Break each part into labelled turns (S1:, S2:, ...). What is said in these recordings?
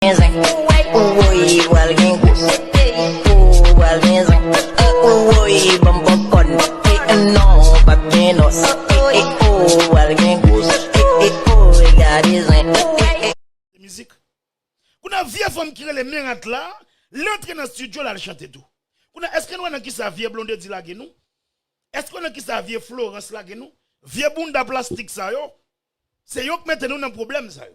S1: gen zen Ou woyy pral gen gwo Ou pral gen zen Ou woyy banm popcorn E non pap gen nòs E ou pral gen gwo E ooy gade zen E Se mizik Kounye vye fanm ki rele Merat la Li antre nan studio lal chante tou Kounye eske nou wè nan kisa vye Blondedy lage nou Eske nou wè nan kisa vye Florence lage nou Vye bounda plastik sa yo Se yo k mete nou nan pwoblèm sa yo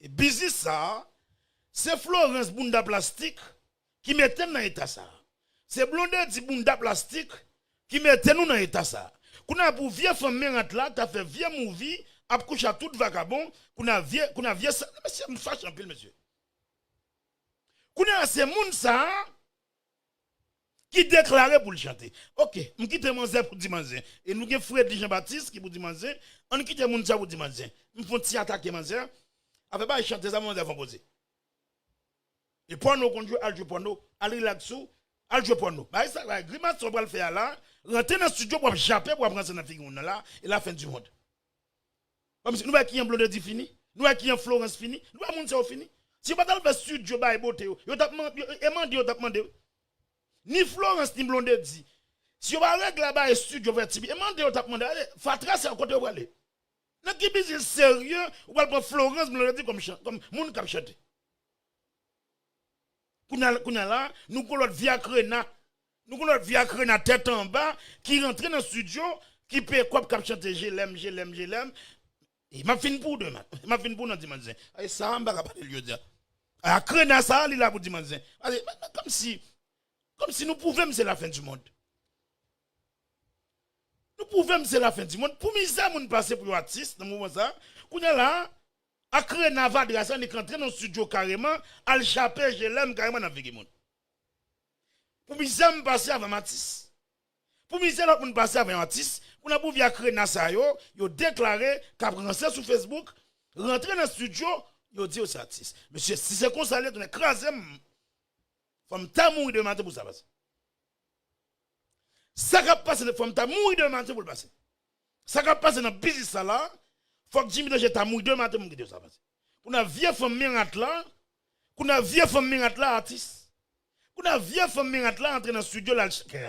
S1: E biznis sa Se Florence bounda plastik ki mete n nan eta sa Se Blondedy bounda plastik ki mete nou nan eta sa Kounya pou vye fanm merant la ta fè vye mouvi ap kouche ak tout vakabon Kounya vye Kounya vye sa Mesye m fache anpil mesye Kounya se moun sa ki deklare pou l chante. Ok, m kite manzè pou di manzè. E nou gen Fredly Jean Baptiste ki pou di manzè. An n kite moun sa pou di manzè. M fon ti atake manzè. Afè bay chante sa manzè konpoze. E pòno konn jwe al jwe pòno. Al relax ou, al jwe pòno. Bay sa bay grimas sa w pral fè a la. Rantre nan studio pou w ap jape pou w ap ranse nan figi moun nan la. E la fin du monde. Banm si nou wè kijan blondedy fini nou wè kijan florence fini nou wè moun sa yo fini si yo patal fè studio bay bote yo yo tap e mande yo tap mande wi ni florence ni blondedy si yo pa regle bay studio fè ti e mande yo tap mande ale fatra sa yo kote yo prale nan ki biznis serye ou pral pran florence blondedy kòm chan kòm moun kap chante kounya kounya la nou gon lòt viakrena Nou konn lòt fi ak rena tèt anba ki rantre nan studio ki peye kòb kap chante je lèm je lèm je lèm e map fin pou deman map fin pou nan dimanch zen e sa m paka palel jodia ak rena sa li la pou dimanch zen pase kòmsi kòmsi nou pouvem se la fen di mond nou pouvem se la fen di mond pou mizè moun pase pou yon atis nan moman sa kounya la ak rena vadra sa li k antre nan studio kareman al chape je lèm kareman nan figi moun. Pou mizè m pase avè m atis. Pou mizè lòt moun pase avè yon atis, kounye pou vya krena sa yo, yo deklare kap ranse sou Facebook, rantre nan studio, yo di yo se atis. Mesye si se konsa l ye tounen kraze m, fò m ta mouri demen maten pou sa pase. Sa kap pase fò m ta mouri demen maten pou l pase. Sa kap pase nan biznis sa la fòk Jimmy Danger ta mouri demen maten poum gade sa pase kounye vye fanm mirat la kounye vye fanm mirat la atis kounye vye fanm mirat la antre nan studio lal chante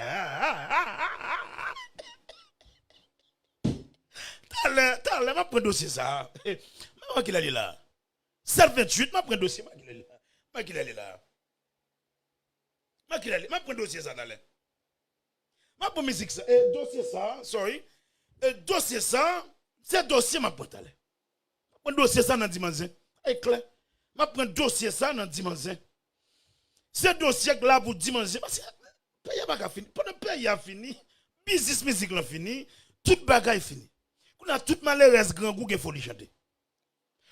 S1: talè talè map pran dosye sa map wè kilè li la 7 28 map pran dosye mwen kilè li la mwen kilè li la mwen kilè li map pran dosye sa talè. Map pran mizik sa e dosye sa sorry e dosye sa se dosye map pran talè map pran dosye sa nan diman zen e klè map pran dosye sa nan diman zen se dosye k la pou diman zen paske peyi a paka fini pandan peyi a fini biznis mizik lan fini tout bagay fini kounya tout malerèz grangou gen foli chante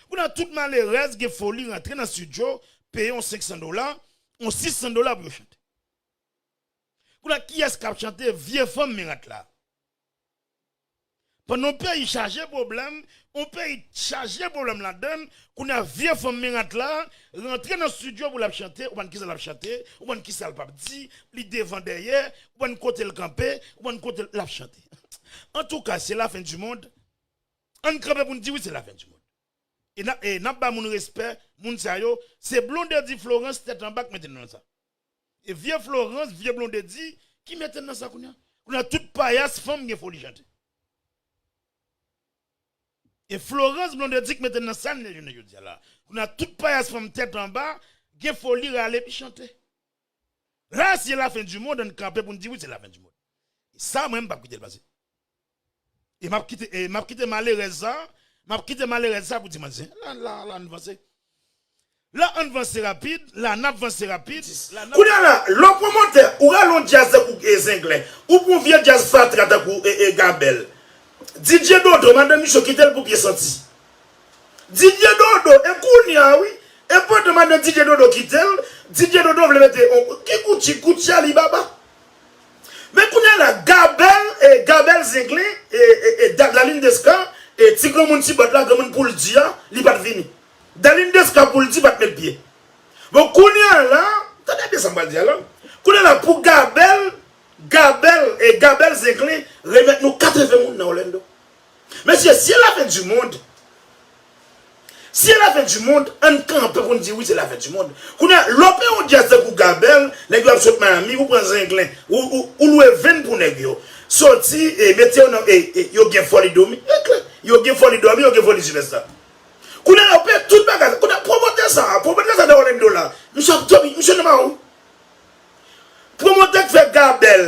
S1: kounya tout malerèz gen foli rantre nan studio peye yon 500 dola yon 600 dola pou yo chante Koulè kiyès kap chante vye fanm mirat la. Pandan yon peyi chaje pwoblèm, yon peyi chaje pwoblèm ladann, kounye a vye fanm mirat la rantre nan studio pou lap chante, ou pa konn kisa lap chante, ou pa konn kisa l pap di, li devan dèyè, ou pa konn kote l kanpe, ou pa konn kote l lap chante. Antouka se la fen di mond, ann kanpe pou n di wi se la fen di mond. E nap ba moun respè, moun sa yo, se Blondedy Florence tèt anba k mete nou nan sa. E vye Florence, vye Blondedy ki mete nan sa kounya? Kounya tout payas fanm gen foli chante. E Florence, Blondedy ki mete nan sa n ye jounen jodia la. Kounya tout payas fanm tèt anba gen foli rale epi chante. La si e la fin du monde an n kanpe pou n di wi se la fin du monde. E sa mwen m pap kite l pase. E map kite e map kite malerèz sa map kite malerèz sa pou ti manzè la la la ann vanse la ann vanse rapid la nap vanse rapid la nap Kounya la,
S2: lè w pwomotè, ou rale yon djaz tankou Zenglen, ou pran yon vye djaz fatra tankou Gabèl. Didye Dodo, madan misye kite l pou pye santi. Didye Dodo, e kounya a wi, e pandan madan Didye Dodo kite l, Didye Dodo vle mete yon, ki Gucci, Gucci Alibaba? Men kounya la gabèl e gabèl zenglen e daline desca e ti granmoun ti bòt la granmoun poul di a li pat vini daline desca poul di pat met pye bon kounya la tande byen sam pral di a la kounya la pou gabèl gabèl e gabèl zenglen remèt nou 80 moun nan orlando Mesye si e la fin du monde Si e la fin du monde ann kanpe pou n di wi se la fin du monde Kounye a lè w peye yon dyaz tankou Gabel nèg yo ap sot Miami ou pran zenglen ou lwe venn pou nèg yo soti e mete yo nan e yo gen foli dòmi e klè yo gen foli dòmi yo gen foli sipèsta Kounye a yo peye tout bagay sa kounye a pwomotè sa a pwomotè sa a nan Orlando la misye ap dòmi misye nan maron Pwomotè k fè Gabel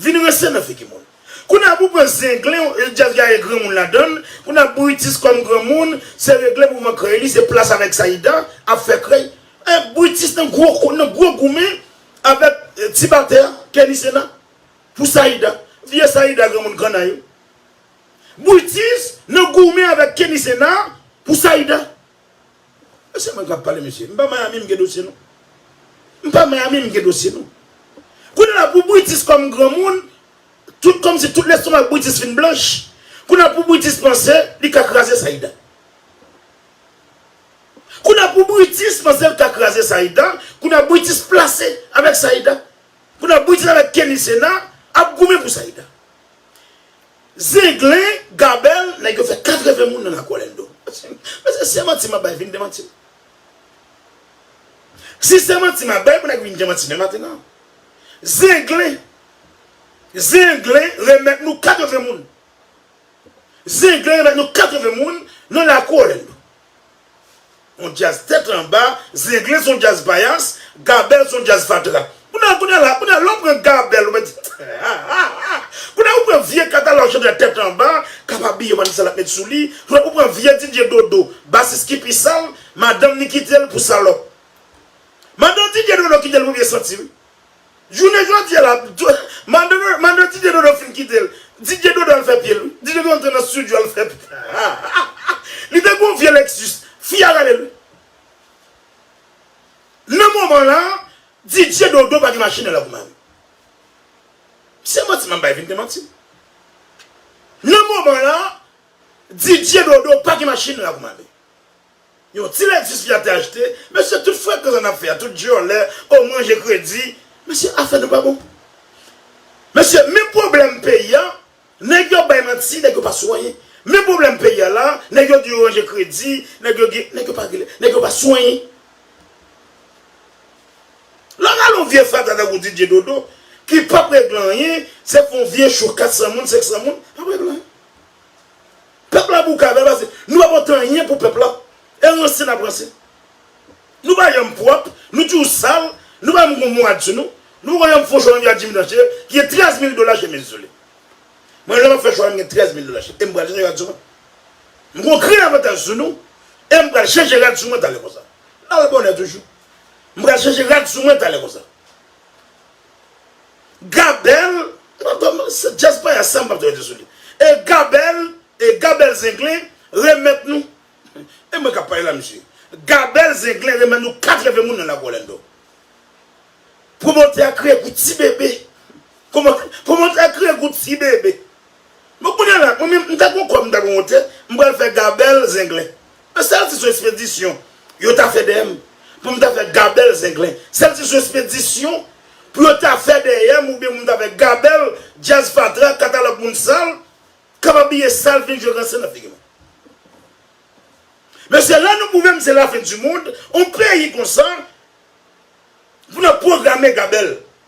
S2: Vin ranse nan figi moun. Kounye a pou pran zenglen jazz la gen granmoun ladann, kounye a Brutus kòm granmoun se regle mouvman krèy li se plas avèk Saïda ap fè krèy e Brutus nan gwo goumen avèk ti batè a Kenny Sena pou Saïda vye Saïda granmoun kanna yo Brutus nan goumen avèk Kenny Sena pou Saïda. E se mwen kap pale mesye. M pa Miami m gen dosye nou. M pa Miami m gen dosye nou. Kounye la pou Britis kòm granmoun, tout kòmsi tout lestomak Britis fin blanch, kounye la pou Britis panse li ka kraze Saïda. Kounye la pou Britis panse l ka kraze Saïda, kounye la Britis plase avèk Saïda. Kounye la Britis avèk Kenny Sena ap goumen pou Saïda. Zenglen gabel nèg yo fè 80 moun nan lakou alendo mesye se manti map bay vin demantim si se manti map bay pou nèg vin demanti men maten an zenglen zenglen remèt nou 80 moun zenglen remèt nou 80 moun nan lakou alendo. On djaz tèt anba, zenglen son djaz payas, gabèl son djaz fatra. Kounye kounye la, kounye lè w pran gabèl ou mèt di hahaha, kounye ou pran vye katalòg chantè tèt anba kap abiye w pa di sa lap mèt sou li, ou pran vye DJ dodo basis ki pi sal, madanm ni kite l pou salòp. Madan DJ dodo kite l pou byen santi wi. Jounen jodi a la, mande Didier Dodo fin kite l, Didier Dodo al fè pye l wi. Didier Dodo antre nan studio al fè pye l. Li te gen yon vye Lexus, fi a rele l. Nan moman la, Didier Dodo pa gen machin nan Lavouma wi. Se manti m ap bay vin te manti. Nan moman la, Didier Dodo pa gen machin nan Lavouma wi. Yon ti lètis fi a te achte. Mesye tout frekan sa nap fè a, tout dyòlè, oh manje kredi. Mesye afè nou pa bon. Mesye men pwoblèm peyi a, nèg yo bay manti, nèg yo pa sou anyen. Men pwoblèm peyi a la, nèg yo di yo ranje kredi, nèg yo gen, nèg yo pa gen, nèg yo pa sou anyen. Lè gade yon vye fatra tankou Didier Dodo ki pap regle anyen, se pou yon vye chou 400 moun, 500 moun, pap regle anyen. Pèp la bouka bèl pase nou pa pote anyen pou pèp la e ranse nap ranse nou pa janm pwòp nou toujou sal nou pa janm gon mwad sou nou nou poko janm fon chwa menm jan ak Jimmy Tanchèy ki gen 13 mil dola chemiz sou li mwen lèm ap fè chwa m gen 13 mil dola em pral chanje rad sou mwen m gon grenn avantaj sou nou em pral chanje rad sou mwen talè konsa lal bonè toujou m pral chanje rad sou mwen talè konsa. Gabel se djaz payas sa mpap janm rete sou li e Gabel e Gabel zenglen remèt nou e mwen kap pale la mesye Gabel zenglen remèt nou 4 leve moun nan lago Orlando pwomotè a kriye pou ti bebe pwomotè a kriye pou ti bebe. Bon kounya la mwen menm m ta gon kòb m ta gon wote m pral fè gabèl zenglen an sèl si son espedisyon yo ta fè dèyè m pou m ta fè gabèl zenglen sèl si son espedisyon pou yo ta fè dèyè m oubyen pou m ta fè gabèl djaz fatra katalòg moun sal k ap abiye sal vin jwe ranse nan figi mwen mesye lè nou pwouve m se lafen di mond on peyi konsa pou n ap pwograme gabèl.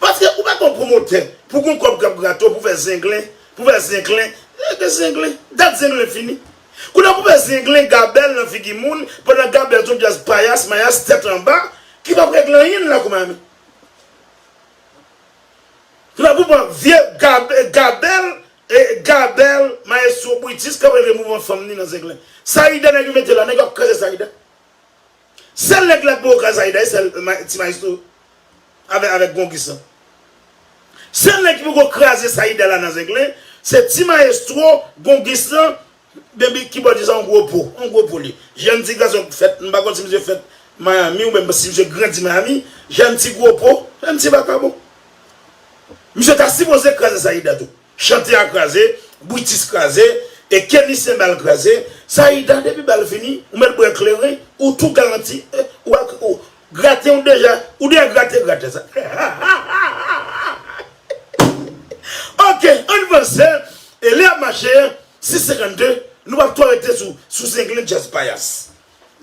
S2: Paske ou pa ka yon pwomotè pou gen yon kòb k ap grate w pou fè zenglen, pou fè zenklen. Rete zenglen. Dat zenglen fini. Kounye a pou fè zenglen gabèl nan figi moun pandan gabèl se yon dyaz payas mayas tèt anba ki p ap regle anyen nan lakou Mayami. Se pa pou pran vye gabèl gabèl mayestwo Brutus k ap regle mouvman fanm ni nan zenglen. Saida nèg yo mete la, nèg yo ap kraze Saida. Sel neg la ki poko ka Zayda se ti maestro avek gongis lan. Sel neg ki poko kraze Sayida la nan zenglen se ti maestro, gongis lan, beby kibòdis an gwo po, an gwo po li. Jan ti gason fèt, m pa konn si misye fèt Miami ou menm si misye grandi Miami, jan ti gwo po, jan ti vakabon. Misye ta sipoze kraze Sayida tou. Chante a kraze, Brutus kraze, e Kenny senbal kraze, Saïda depi bal fini ou mèt bwè kleren ou tou galanti ou grate ou deja ou deja grate gratè sa hahahahahahaha ok ann vanse e lè ap mache 6 52 nou pap twò rete sou sou zenglen djaz payas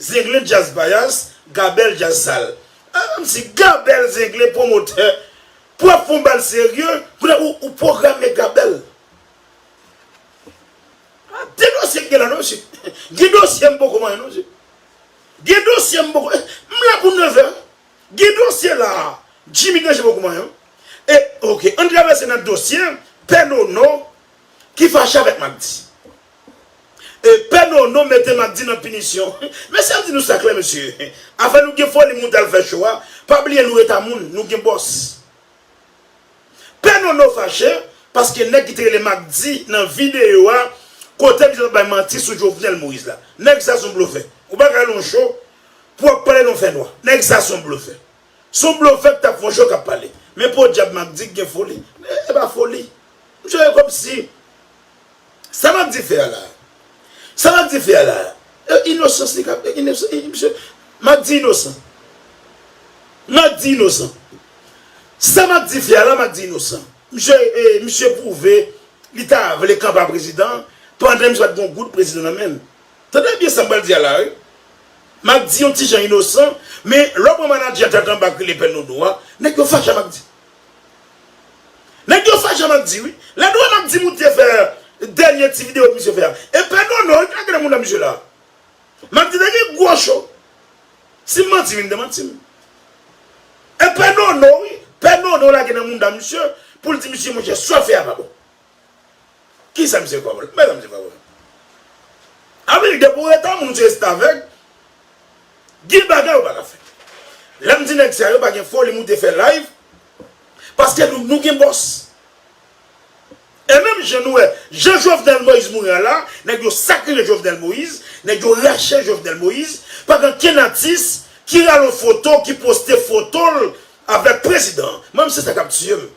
S2: zenglen djaz payas gabèl djaz sal ah menmsi gabèl zenglen pwomotè Pwèv pou m ba l serye. Koulè ou ou pwogram nèg la bèl. A de dosye ki gen la non mesye. Gen dosye m poko manyen non mesye. Gen dosye m poko. M la pou nevè. Gen dosye la a. Jimmy Danje poko manyen. E ok an travèse nan dosye pè Nono ki fache avèk Magdi. Pè Nono mete Magdy nan pinisyon. Mesye ann di nou sa klè mesye, afè nou gen foli moute al fè cho a, pa bliye nou ret a moun, nou gen bòs. Pè Nono fache paske nèg ki te rele Magdy nan videyo a kote misye t ap bay manti sou Jovenel Moïse la. Nèg sa son blofè. Ou pa ka al yon cho pou w ap pale nan fè nwa. Nèg sa son blofè. Son blofè k t ap fè yon cho k ap pale. Men podyab Magdy gen foli. E pa foli. Misye kòmsi. Sa map di fer la. Sa map di fer la. E inosans li kap e inosans e misye map di inosan. Map di inosan. Sa map di fer la map di inosan. Misye e misye prouve li ta vle kanpa prezidan pandan misye pat gon goud prezidan nan menl. Tande byen sam pral di a la wi. Map di yon ti jan inosan men lè ou pran manager tèt anba k rele pè nodo a nèg yo fache a map di. Nèg yo fè jan map di wi. Lè nou wè map di moun te fè dènye ti video misye fè a. E pè nono wi ki nan grenmoun nan misye la. Map di nèg yo gwo cho. Sim manti vin demantim. E pè nono wi. Pè nono lage nan moun nan misye. Poul di misye monchè sa wap fè a pa bon. Kisa misye kwè bon? Mezanmi se pa bon. Anpil depi w etan moun se restavèg, gen bagay ou pa ka fè. Lè m di nèg sa yo pa gen foli moute fè live, paske nou gen bòs. E menm jan nou wè, jan Jovenel Moïse mouri a la, nèg yo sakriye Jovenel Moïse, nèg yo rache Jovenel Moïse, pa gen kenn atis ki rale yon foto ki poste foto l avèk prezidan an. Mwen menm se sa k ap tiye m.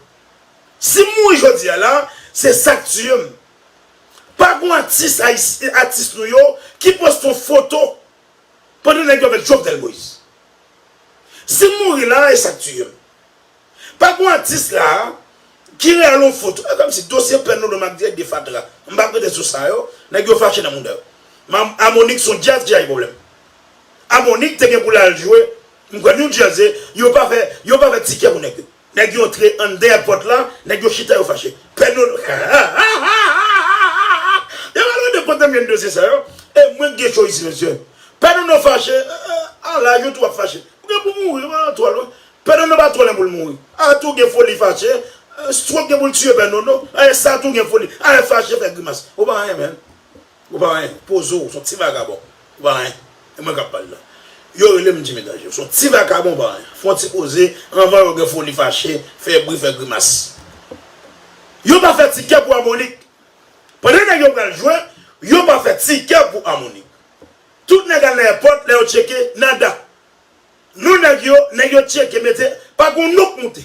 S2: Si m mouri jodi a la, se sa k tiye m. Pa gon atis ayisyen, atis nou yo, ki poste yon foto pandan nèg yo avèk Jovenel Moïse. Si m mouri la a, e sa k tiye m. Pa gon atis la a ki reyale yon foto. E kòm si dosye pèn Lolo Macdieu de fatra. M pa prete sous sa yo, nèg yo fache nan mouda yo. Mam Amonik son djaz ki chaje pwoblèm. Amonik te gen pou l al jwe, m kwè New Jersey, yo pa fè, yo pa fè tikè pou nèg yo. Nèg yo antre andè ak pòt la, nèg yo chita yo fache. Pè Dodo Hahahahahahaha Yo pa lwen de pòt anmyè de se sa yo E mwen k gen cho isi mesye Pè Dodo fache A laj ou tou wap fache Ou gen pou mouri ou pa twò lwen Pè Dodo pa twò lwen pou l mouri A tou gen foli fache Strok gen pou l tiye Pè Dodo Sa tou gen foli A fache fè grimas Ou pa anyen menn. Ou pa anyen, poze w, son ti vagabon, ou pa anyen, e mwen kap pale la. Yo rele m Jimmy Danger, ou son ti vakabon ou pa anyen, fon ti koze anvan yo gen foli fache, fè bri, fè grimas. Yo pa fè tikè pou Amonik. Pandan nèg yo pral jwe, yo pa fè tikè pou Amonik. Tout nèg al nan èpòt, lè yo tcheke, nada. Non nèg yo, nèg yo tcheke mete, pa gon non k moute.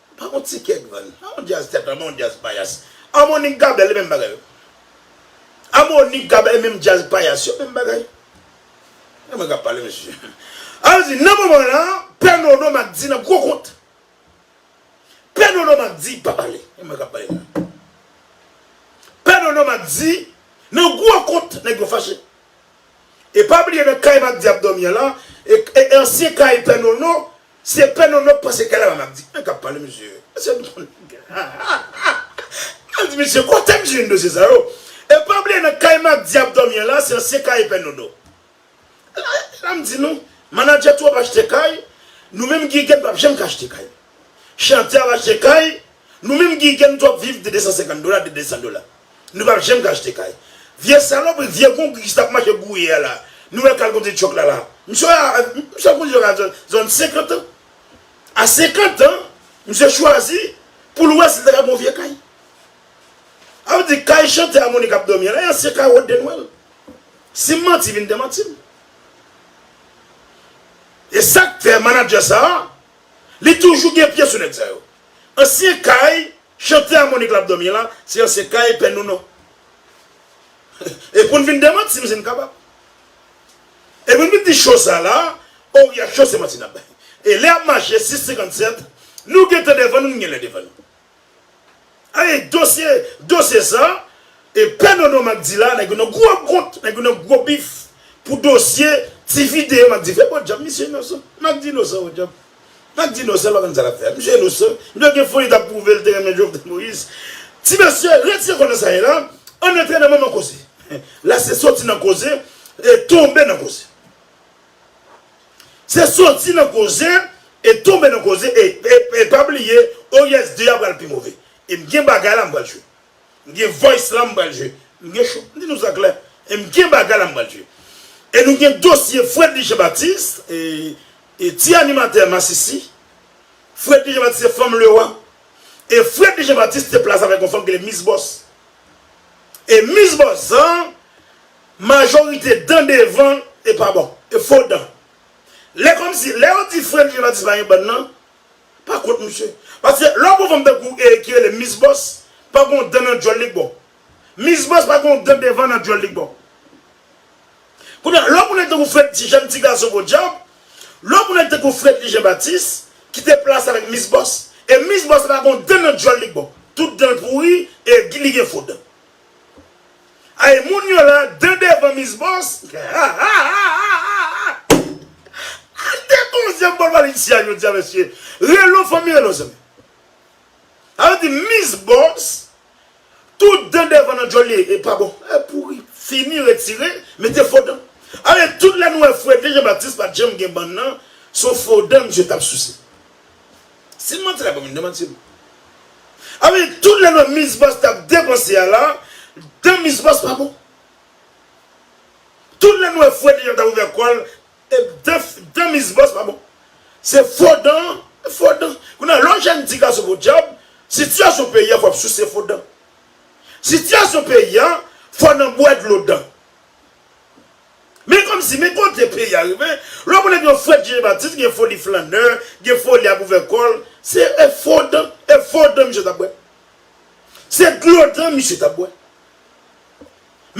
S2: Pa gon tikè k vann. An yon djaz tèt anba yon djaz payas. Harmonik Gabèl e menm bagay. Harmonik Gabèl e menm djaz payas yo menm bagay. Se mwen kap pale mesye. Al di nan moman la pè Nono Makdi nan gwo kont. Pè Nono Makdi pa pale. E mwen kap pale la. Pè Nono Makdi nan gwo kont nèg yo fache. E pa bliye nan kay Makdi ap dòmi an la e ansyen kay pè Nono Se pè nono k pase kay la map di an kap pale mesye mesye nou pran nèg ha ha ha map di mesye kote m jwenn dosye sa yo e pa bliye nan kay Macdy ap dòmi an la se ansyen kay pè nono la m di nou manadjè twòp achte kay nou menm giyigen pap janm ka achte kay chantè ap achte kay nou menm giyigen nou twòp viv de 250 dola de 200 dola. Nou pap janm ka achte kay. Vye salopri vye konkis tap mache gouye a la nou wè kal kote tchòk la la misye ap konduit yo nan zòn 50 an a 50 an misye chwazi poul wè sil ta ka gon vye kay a ou di kay chantè a monik ap dòmi a la e ansyen kay wòd de nwèl sim manti vin demantim e sak fè manadjè sa li toujou gen pye sou nèg sa yo ansyen kay Chante amonik lap domi la se ansyen kay pè nou non e poun vin demantim sin kapab e poun vin di show sa la oria show se manti nap bay e lè ap mache 6 57 nou gentan devan nou nou genlè devan nou ae dosye dosye sa e pè nono macdy la nèg yo nan gro kont nèg yo nan gro bif pou dosye ti video macdy fè bon djab misye inosan macdy inosan bon djab. Map di non sèl wap konn sa lap fè. Misye inosan. Li pat gen foli tap pwouve li te renmen Jovenel Moïse. Ti mesye retire kò nan sa ye la ann antre nan manman koze. La se soti nan koze e tonbe nan koze. Se soti nan koze e tonbe nan koze e pa bliye OIS 2 a pral pi move. E m gen bagay la m pral jwe. M gen voice la m pral jwe. M gen chou m di nou sa klè e m gen bagay la m pral jwe. E nou gen dosye Fredly Jean Baptiste e ti animatè masisi. Fredly Jean Baptiste se fanm Lewa. E Fredly Jean Baptiste te plas avèk yon fanm ki rele Miss Boss. E Miss Boss sa majorite dan devan e pa bon. E fo dan. Lè kòmsi lè yo di Fredly Jean Baptiste pa gen bann nan. pa kont misye. Paske lè w pran fanm tankou ki rele Miss Boss pa gon dan nan dyòl li k bò. Miss Boss pa gon dan devan nan dyòl li k bò. Kounye a, lè w pran nèg tankou Freddy ti jèn ti gason podyab, lè w pran nèg tankou Fredly Jean Baptiste ki te plas avèk Miss Boss e Miss Boss pa gon dan nan dyòl li k bò. Tout dan l pouri e li gen fo dan. Ayy moun yo la de devan miss boss hahahahahaha al de bon zye bol valide si a jodia mesye relo fanmi relo zanmi sa vle di miss boss tout dan devan nan djol li pa bon e pouri fini retire mete fo dan ale tout lè nou wè fredly jean baptiste pat janm gen bann nan son fo dan misye tap souse. Sim manti la banm yn demanti m. Anmweyy tout lè nan miss boss tap depanse a la dan miss boss pa bon tout lè nou wè freddy jan tap ouvè kòl dan miss boss pa bon se fo dan fo dan kounye a lè yon jèn ti gason podyab sitiyasyon peyi a fò ap souse fo dan sitiyasyon peyi a fò nan bwè dlo dan. Men kòmsi, men kote peyi a rive, lè w konnen gen Frèd Jezi Batis gen foli flannè, gen foli ap ouvè kò l, se e fo dan, e fo dan misye t ap bwè. Se dlo dan misye t ap bwè.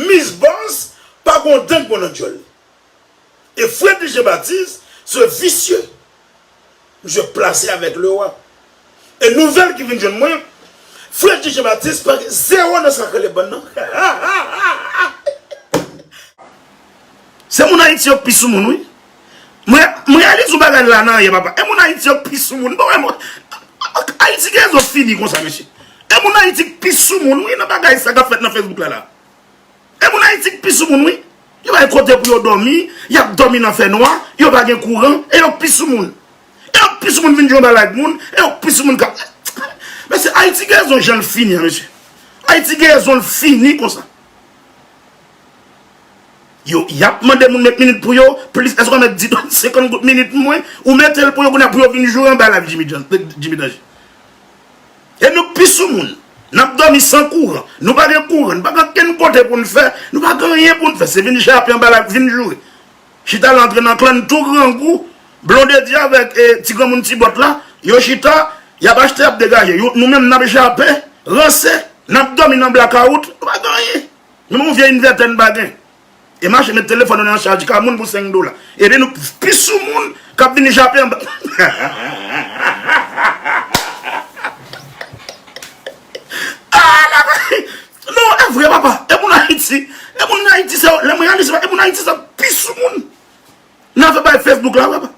S2: Mis Bòs pa gen yon dan ki bon nan djòl li. E Frèd Jezi Batis se visye, Misye plase avèk lewa. E nouvèl ki vin jwenn mwen, frè Jije Batis pa gen zewo nan sa k rele bann nan. Se moun Ayiti yo k pi soumoun wi. Mwen reyalize yon bagay la nan yè papa. E moun Ayiti yo k pi soumoun. Ayiti gen rezon fini konsa mesye. E moun Ayiti k pi soumoun wi nan bagay sa k ap fèt nan Facebook la la. E moun Ayiti k pi soumoun wi. Yo bay kote pou yo dòmi, y ap dòmi nan fè nwa, yo pa gen kouran, e yo k pi soumoun. E yo k pi soumoun vin jwe bal ak moun, e yo k pi soumoun k ap. Mesye, Ayiti gen rezon jan l fini an mesye. Ayiti gen rezon l fini konsa. Yo, y ap mande moun met minit pou yo, plis, èske w konn mèt di dòmi 50 goud minit mwen, ou mete l pou yo kounye a pou yo vin jwe anba l ak Jimmy Jan, Jimmy Danje. E nou pi soumoun. N ap dòmi san kouran. Nou pa gen kouran. Nou pa gen ankenn kote pou n fè. Nou pa gen anyen pou n fè. Se vin jape anba lak vin joure. Chita la antre nan klan n tou grangou. Blondedy avèk ti granmoun ti bòt la. Yo chita. Y ap achte y ap degaje. Nou menm n ap jape. Ranse. N ap dòmi nan blakawout. Nou pa gen anyen. Menm yon vye invètè n pa gen. E mache met telefòn nou nan chaj ka moun pou 5 dola. Epi nou pi sou moun k ap vini jape anba. Non, e vre papa. E moun Ayiti, e moun Ayiti se yo, lè m reyalize sa, e moun Ayiti se yo pi sou moun nan afè bagay Facebook la papa.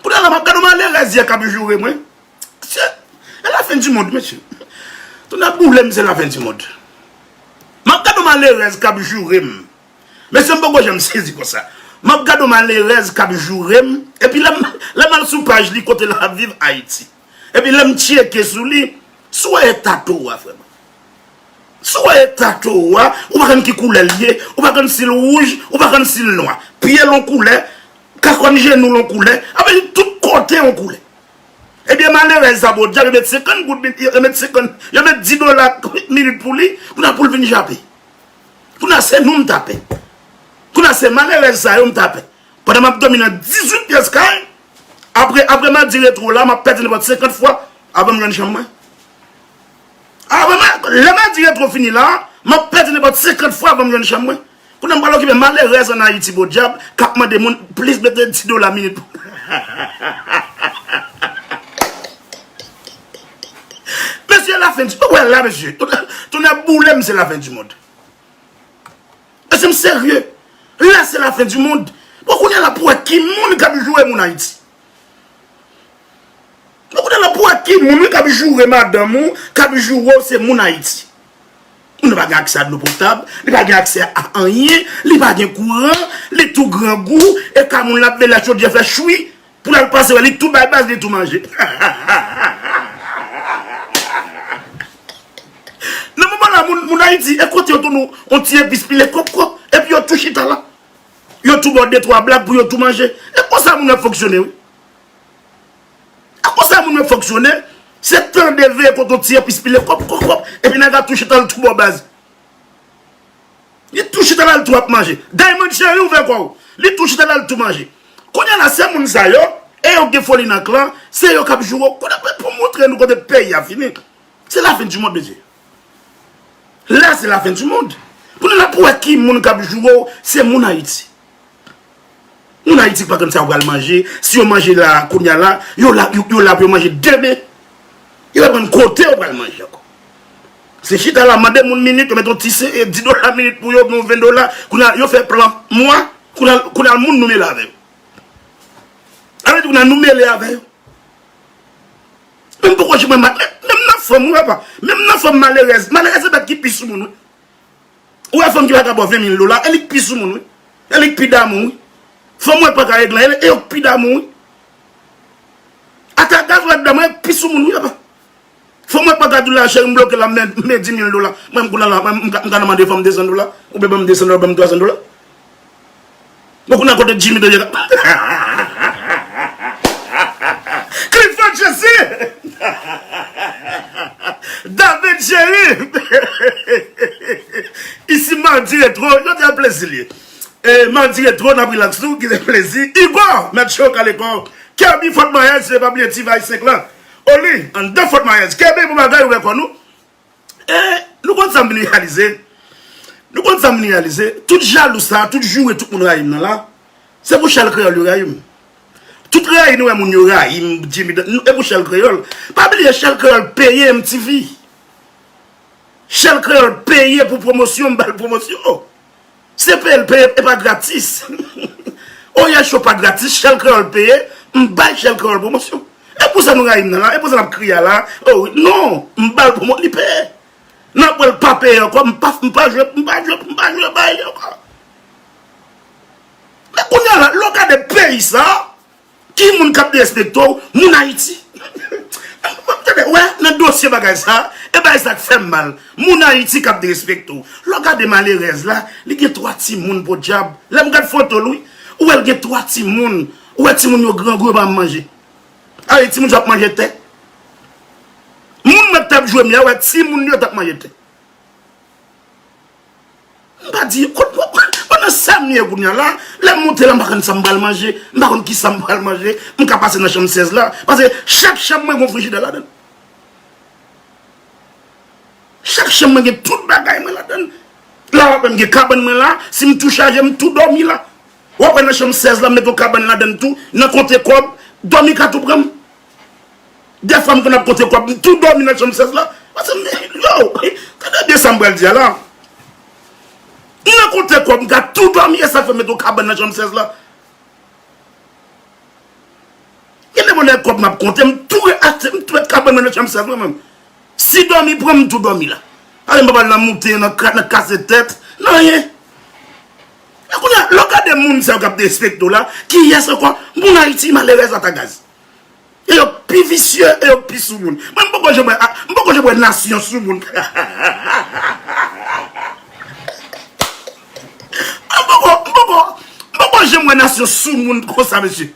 S2: Kounye a la m ap gade yon malerèz yè k ap joure mwen. E la fin du monde mesye. Tonnè boule m se la fin du monde. Map gade yon malerèz kap joure m. Mesye m poko janm sezi konsa. Map gade yon malerèz kap joure m. Epi lè m al sou paj li kote lap viv Haiti. Epi lè m tyeke sou li. Si w wè eta to a frè m. Si w wè eta to a. Ou pa konn ki koulè l ye. Ou pa konn si l wouj. Ou pa konn si l nwa. Pye l yon koulè. Kakòn jenou l yon koulè. Anfen tout kote yon koulè. Ebyen malerèz sa bon djab yo met 50 goud min yo met 50 yo met 10 dola minit pou li kounye a poul vin jape kounye a se nou m ta pè kounye a se malerèz sa yo m ta pè pandan map domi nan 18 pyès kay apre apre madi retro la map pèdi nenpòt 50 fwa avan m jwenn chanm mwen avan lè madi retro fini la map pèdi nenpòt 50 fwa avan m jwenn chanm mwen Kounye a m pral okipe malerèz an Ayiti podyab k ap mande moun plis mete ti dola minit pou Mesye e lafen di ou wè la mesye Tonnè boule m se lafen di mond Mesye m serye La se lafen di mond Bon kounye a la pou wè ki moun k ap joure moun Ayiti Bon kounye a la pou wè ki moun k ap joure madanm ou k ap joure w se moun Ayiti Moun nan pa gen aksè a dlo potab, li pa gen aksè a anyen, li pa gen kouran, li tou grangou, e ka moun lap mele chodyè fè chwi, pou lal pase wè li tou bay baz li tou manje. Nan moman la moun moun ayiti e kote yo tou nou on ti epis pile kòp kòp, epi yo tou chita la, yo tou baw de twa blag pou yo tou manje, e konsa moun ap fonksyone wi. E konsa moun ap fonksyone, se tande veye kote yon ti epis pile kòp kòp kòp epi nèg la tou chita l tou bò baz. Li tou chita la l tou ap manje. Diamond cheri ouvè kò w. Li tou chita la l tou manje. Kounye la se moun sa yo e yo gen foli nan klan, se yo k ap joure w. Kounye pou m montre nou kote peyi a fini. Se la fin di mond mesye. La se la fin di mond. Kounye la pou wè ki moun k ap joure w se moun Ayiti. Moun ayiti pa konn sa yo pral manje, si yo manje la kounya la, yo la pou yo manje demen. Yo pa konn kote yo pral manje ankò. Se chita la mande moun minit, yo mete yon ti 10 dola minit pou yo, yon 20 dola, kounya yo fè plan mwa, kounya moun nou mele avè yo. Annou di kounya nou mele avè yo. Menm poko jwenn, menm nan fanm ou wè pa, menm nan fanm malerèz, malerèz se bèt ki pi sou moun wè. Ou wè fanm ki paka baw 20 mil dola e li k pi soumoun wi. E li k pi damou wi. Fanm wè paka eglan e yo k pi damou wi. Ata gaz wè damou e yo k pi soumoun wi apa. Fanm wè paka di w la cheri m bloke la m gen 10 mil dola mwen m kounye la m ka nan mande fanm 200 dola oubyen banm 200 dola oubyen banm 300 dola. Bon kounya kote Jimmy de yèk la Clifford Jesse David Jerry Ici Mardi Retro Jodi a plezi li ye Mardi Retro nap relax nou ginen plezi Hugo mèt cho kale kòw Kerby Fort Myers e pa bliye T-Vice 5 lan Oli anndan Fort Myers Kerby bon bagay ouvè kò nou. E nou konn sa m reyalize, nou konn sa m reyalize, tout jalou sa, tout joure tout moun rayi m nan la, se pou Chal Kreyòl yo rayi m. Tout rayi nou wè moun yo rayi m, Djimi Dan, e pou Chal Kreyòl. Pa bliye Chal Kreyòl peye MTV. Chal Kreyòl peye pou pwomosyon m ba l pwomosyon. Se peye l peye epa gratis Oryèl show pa gratis shell kreyòl peye m bay shell kreyòl pwomosyon e pou sa nou rayi m nan la e pou sa n ap kriye a la o wi non m ba l pwomo li peye nan apre l pa peye ankò m pa m pa jwe m pa jwe m pa jwe bay li ankò men kounye a la lè w gade peyi sa Ki moun kap derespekte w moun ayiti tande wè nan dosye bagay sa e bagay sa k fèm mal moun ayiti kap derespekte w lè w gade malerèz la li gen 3 timoun podyab lèm gad foto l wi ou wè l gen 3 timoun ou wè timoun yo grangou yo pa janm manje ale timoun sa yo ap manje tè moun mwen tap jwe m ya wè timoun yo tap manje tè. M pa di kot mwen pral Mwen nan sa m ye kounya la Lè m monte la m pa konn sa m pral manje M pa konn ki sa m pral manje M ka pase nan chanm 16 la Paske chak chanm mwen gon frijidè ladan l Chak chanm mwen gen tout bagay mwen ladan l La w ap wè m gen kabann mwen la Si m tou chaje m tou dòmi la W ap wè nan chanm 16 la m met yon kabann ladan l tou Nan konte kòb Dòmi ka tou pran m Dèfwa m konn ap konte kòb, m tou dòmi nan chanm 16 la. Paske m di, yow, tande byen sa m pral di a la. M nan konte kòb, m ka tou dòmi, e sa k fè m mete yon kabann nan chanm 16 la? Gen de bonè kòb m ap konte, m tou re achte, m tou met kabann mwen nan chanm 16 mwen menm. Si dòmi pran m, m tou dòmi la. Paske m pa pral nan moute, nan kase tèt, nan anyen. E kounye a, lè w gade moun sa yo k ap derespekte w la, kiyès ankò moun Ayiti malerèz ata gaze? E yo pi visye e yo pi soumoun. Mwen m poko janm wè m poko janm wè nasyon soumoun M poko m poko m poko janm wè nasyon soumoun konsa mesye.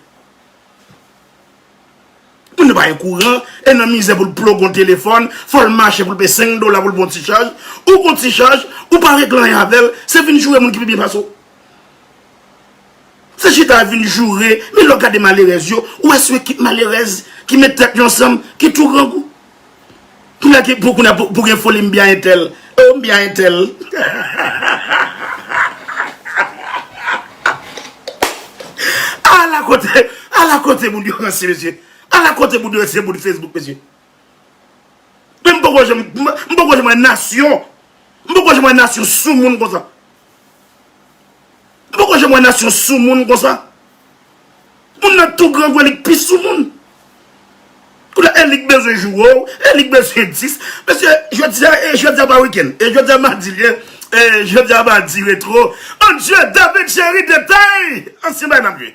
S2: Moun yo pa gen kouran e nan mizè pou l plug yon telefòn fò l mache pou l peye 5 dola pou l pran yon ti chaj. Ou pran yon ti chaj ou pa regle anyen avè l se vin joure moun ki pi byen pase w. Se chita ap vin joure, men lè w gade malerèz yo, ou wè se yon ekip malerèz ki met tèt yo ansanm, ki tou grangou. Kounya ki pou kounya pou gen foli m bya entèl, oo m bya entèl. Ala kote, ala kote moun yo ranse mesye. Ala kote moun yo ranse se moun Facebook mesye. Men m poko janm, m poko janm wè nasyon, m poko janm wè nasyon soumoun konsa. Nou poko janm wè nasyon soumoun konsa. Moun nan tou grangou li k pi soumoun. Koulè e li k bezwen jou o, e li k bezwen 10. Mesye, jodi a e jodi a pa wikenn. E jodi a madi liye, e jodi a madi retro. Mon Dieu, David Jerry detay! Ansyen bay n ap jwe.